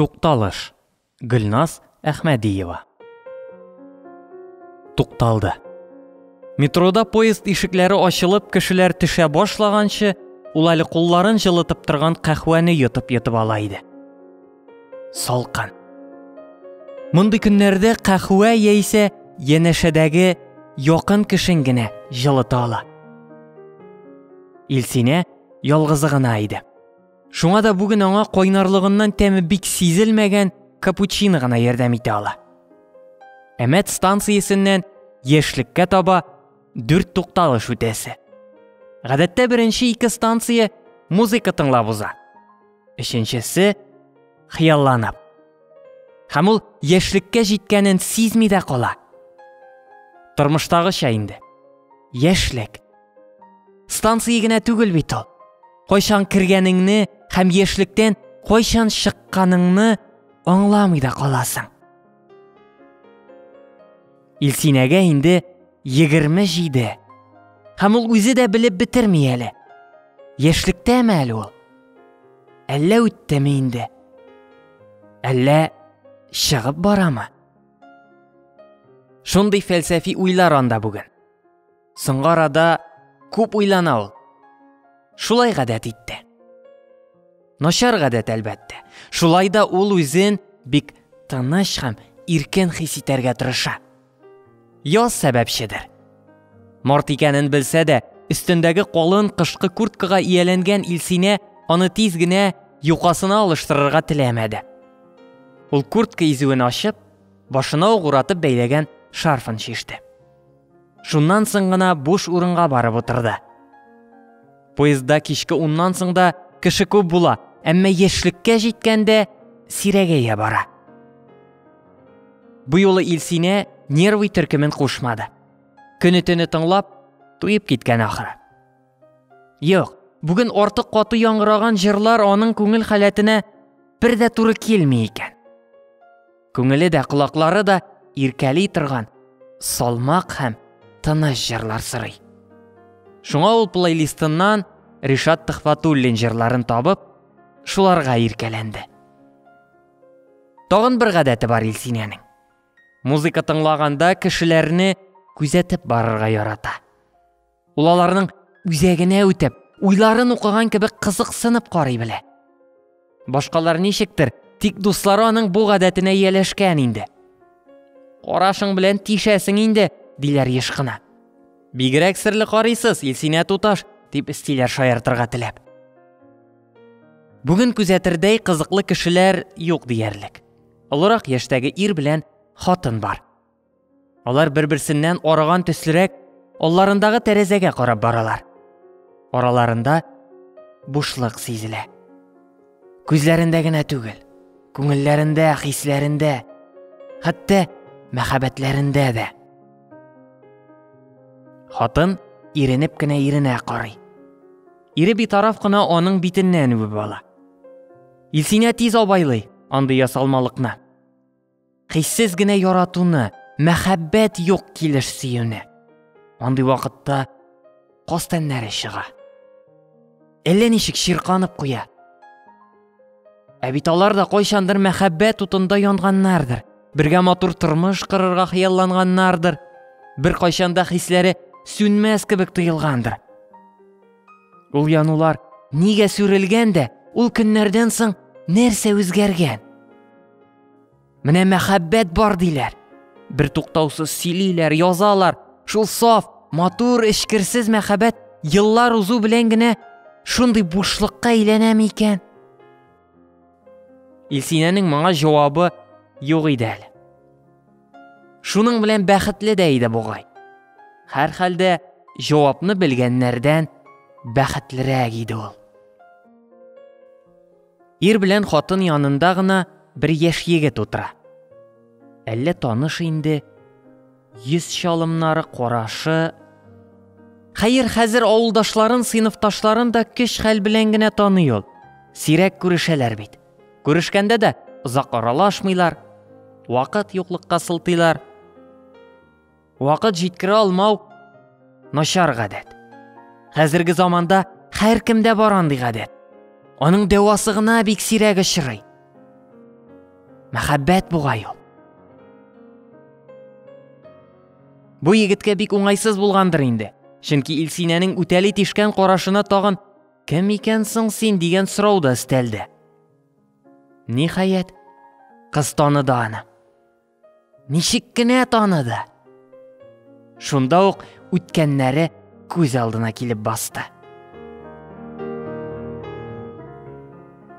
Тукталыш, Гөлназ Әхмәдиева. Тукталды. Метрода поезд ишекләре ачылып, кешеләр төшә башлаганчы, ул әле кулларын җылытып торган кәхвәне йотып-йотып ала иде. Салкын. Мондый көннәрдә кәхвә яисә янәшәдәге якын кешен генә җылыта ала. Илсинә ялгызы гына иде. Шуңа да бүген аңа кайнарлыгыннан тәме бик сизелмәгән капучино гына ярдәм итә ала. Әмәт станциясеннән яшьлеккә таба дүрт тукталыш үтәсе. Гадәттә беренче ике станция музыка тыңлап уза. Өченчесе хыялланып. Һәм ул яшьлеккә җиткәнен сизми дә кала. Тормыштагыча инде. Яшьлек Станция генә түгел бит ул. Кайчан кергәнеңне һәм яшьлектән кайчан чыкканыңны аңламый да каласың. Илсинәгә инде 27. Һәм ул үзе дә белеп бетерми әле. Яшьлектәме әле ул? Әллә үттеме инде? Әллә чыгып барамы? Шундый фәлсәфи уйлар анда бүген. Соңгы арада күп уйлана ул. Шулай гадәт итте. Начар гадәт әлбәттә. Шулай да ул үзен бик тыныч һәм иркен хис итәргә тырыша. Яз сәбәпчедер. Март икәнен белсә дә, өстендәге калын кышкы курткага ияләнгән Илсинә аны тиз генә юкасына алыштырырга теләмәде. Ул куртка изүен ачып, башына угратып бәйләгән шарфын чиште. Шуннан соң гына буш урынга барып утырды. Поездда кичке уннан соң да кеше күп була, әмма яшьлеккә җиткәндә сирәгәя бара. Бу юлы Илсинә нервый төркемен кушмады. Көне-төне тыңлап, туеп киткән ахыры. Юк, бүген артык каты яңгыраган җырлар аның күңел халәтенә бер дә туры килми икән. Күңеле дә, колаклары да иркәли торган салмак һәм тыныч җырлар сорый. Шуңа ул плейлистыннан Ришат Төхфатуллин җырларын табып, шуларга иркәләнде. Тагын бер гадәте бар Илсинәнең. Музыка тыңлаганда кешеләрне күзәтеп барырга ярата. Ул аларның үзәгенә үтеп, уйларын укыган кебек кызыксынып карый белә. Башкалар ничектер, тик дуслары аның бу гадәтенә ияләшкән инде. Карашың белән тишәсең инде, диләр еш кына. Бигрәк серле карыйсыз, Илсинә туташ, дип истиләр шаяртырга теләп. Бүген күзәтердәй кызыклы кешеләр юк диярлек. Олырак яшьтәге ир белән хатын бар. Алар бер-берсеннән арыган төслерәк, алларындагы тәрәзәгә карап баралар. Араларында бушлык сизелә. Күзләрендә генә түгел, күңелләрендә, хисләрендә, хәтта мәхәббәтләрендә дә. Хатын иренеп кенә иренә карый. Ире битараф кына аның битеннән үбеп ала. Илсинә тиз абайлый андый ясалмалыкны. Хиссез генә яратуны, мәхәббәт юк килеш сөюне. Андый вакытта кастәннәре чыга. Әллә ничек чирканып куя. Ә бит алар да кайчандыр мәхәббәт утында янганнардыр. Бергә матур тормыш кырырга хыялланганнардыр. Бер кайчанда хисләре сүнмәс кебек тоелгандыр. Ул янулар нигә сүрелгән дә, ул көннәрдән соң нәрсә үзгәргән? Менә мәхәббәт бар диләр. Бер туктаусыз сөйлиләр, язалар. Шул саф, матур, эчкерсез мәхәббәт еллар узу белән генә шундый бушлыкка әйләнәме икән? Илсинәнең моңа җавабы юк иде әле. Шуның белән бәхетле дә иде бугай. Һәр хәлдә җавапны белгәннәрдән бәхетлерәк иде ул. Ир белән хатын янында гына бер яшь егет утыра. Әллә таныш инде, йөз чалымнары, карашы. Хәер, хәзер авылдашларын, сыйныфташларын да көч хәл белән генә таный ул. Сирәк күрешәләр бит. Күрешкәндә дә озак аралашмыйлар, вакыт юклыкка сылтыйлар. Вакыт җиткерә алмау начар гадәт. Хәзерге заманда һәр кемдә бар андый гадәт. Аның дәвасы гына бик сирәк очрый. Мәхәббәт бугай ул. Бу егеткә бик уңайсыз булгандыр инде. Чөнки Илсинәнең үтәли тишкән карашына тагын кем икән соң син дигән сорау да өстәлде. Ниһаять, кыз таныды аны. Ничек кенә таныды? Шунда ук үткәннәре күз алдына килеп басты.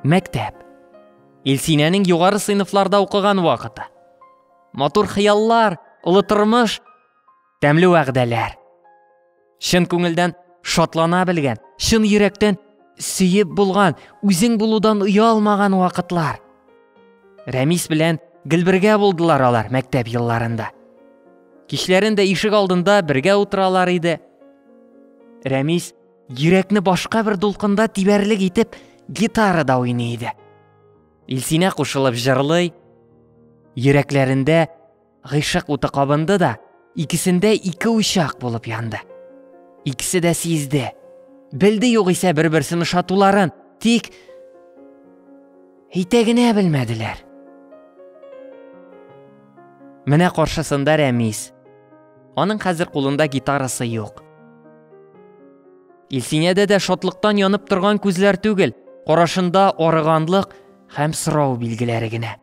Мәктәп. Илсинәнең югары сыйныфларда укыган вакыты. Матур хыяллар, олы тормыш. тәмле вәгъдәләр. Чын күңелдән шатлана белгән, чын йөрәктән сөеп булган, үзең булудан оялмаган вакытлар. Рәмис белән гел бергә булдылар алар мәктәп елларында. Кичләрен дә ишек алдында бергә утыралар иде. Рәмис йөрәкне башка бер дулкында тибәрлек итеп гитарада уйный иде. Илсинә кушылып җырлый, йөрәкләрендә Гыйшык уты кабынды да, икесендә ике учак булып янды. Икесе дә сизде. Белде югыйсә бер-берсен ошатуларын, тик әйтә генә белмәделәр. Менә каршысында Рәмис. Аның хәзер кулында гитарасы юк. Илсинәдә дә шатлыктан янып торган күзләр түгел, карашында арыганлык һәм сорау билгеләре генә.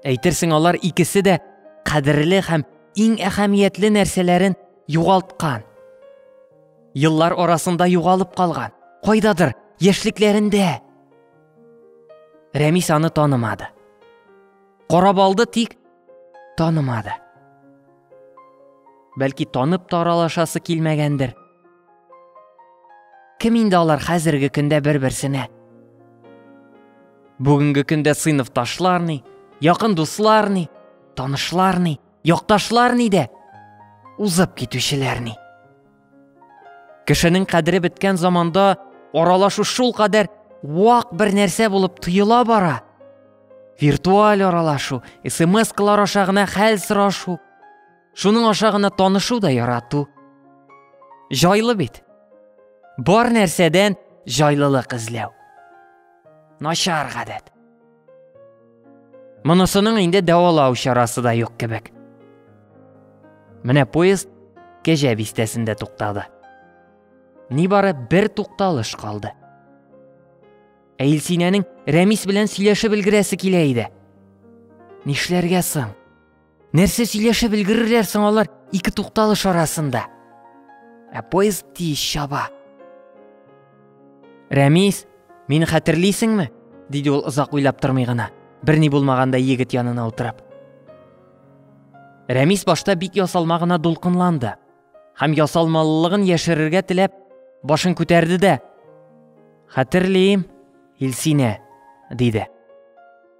Әйтерсең алар икесе дә кадерле һәм иң әһәмиятле нәрсәләрен югалткан. Еллар арасында югалып калган, кайдадыр яшьлекләрендә. Рәмис аны танымады. Карап алды тик танымады. Бәлки танып таралашасы килмәгәндер. Кем инде алар хәзерге көндә бер-берсенә? Бүгенге көндә сыйныфташлар ни, якын дуслар ни, танышлар ни, якташлар ни дә, узып китүчеләр ни. Кешенең кадере беткән заманда аралашу шул кадәр вак бер нәрсә булып тоела бара. Виртуаль аралашу, смс-калар аша гына хәл сорашу, Шуның аша гына танышу да ярату. Җайлы бит. Бар нәрсәдән җайлылык эзләү. Начар гадәт. Монысының инде дәвалау чарасы да юк кебек. Менә поезд Кәҗә бистәсендә туктады. Нибары бер тукталыш калды. Ә Илсинәнең Рәмис белән сөйләшеп өлгерәсе килә иде. Нишләргә соң? Нәрсә сөйләшеп өлгерерләр соң алар ике тукталыш арасында? Ә поезд тиз чаба. Рәмис, мин хәтерлисеңме? диде ул озак уйлап тормый гына, берни булмаганда егет янына утырып. Рәмис башта бик ясалма гына дулкынланды һәм ясалмалылыгын яшерергә теләп башын күтәрде дә, хәтерлим, Илсинә, диде.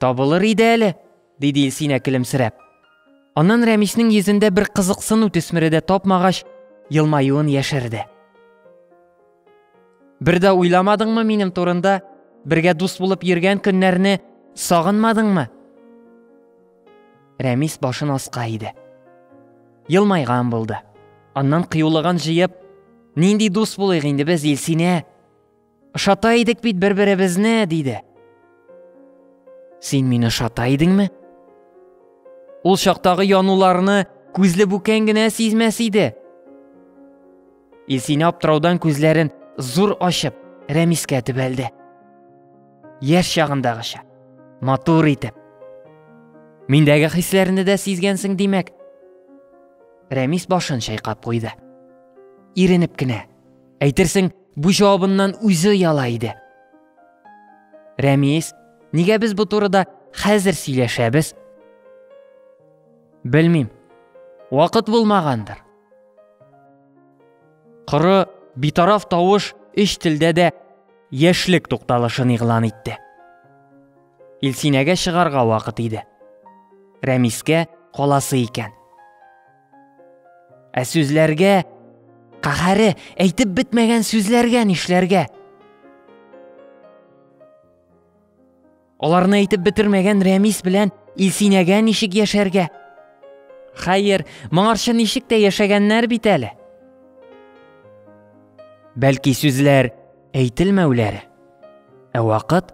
Табылыр иде әле, диде Илсинә көлемсерәп. Аннан Рәмиснең йөзендә бер кызыксыну төсмере дә тапмагач, елмаюын яшерде. Бер дә уйламадыңмы минем турында? Бергә дус булып йөргән көннәрне сагынмадыңмы? Рәмис башын аска иде. Елмайган булды. Аннан кыюлыгын җыеп, Нинди дус булыйк инде без, Илсинә? Ошата идек бит бер-беребезне, диде. Син мине ошата идеңме? Ул чактагы януларны күзле бүкән генә сизмәс иде. Илсинә аптыраудан күзләрен зур ачып, Рәмискә төбәлде. Яшь чагындагыча, матур итеп. Миндәге хисләрне дә сизгәнсең димәк. Рәмис башын чайкап куйды. Иренеп кенә Әйтерсең, бу җавабыннан үзе яла иде. Рәмис, нигә без бу турыда хәзер сөйләшәбез? Белмим. Вакыт булмагандыр. Коры, битараф тавыш өч телдә дә яшьлек тукталышын игълан итте. Илсинәгә чыгарга вакыт иде. Рәмискә каласы икән. Ә сүзләргә каһәре әйтеп бетмәгән сүзләргә нишләргә? Аларны әйтеп бетермәгән Рәмис белән Илсинәгә ничек яшәргә? Хәер, моңарчы ничек тә яшәгәннәр бит әле. Бәлки сүзләр әйтелмәүләре, ә вакыт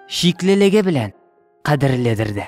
шиклелеге белән кадерледер дә.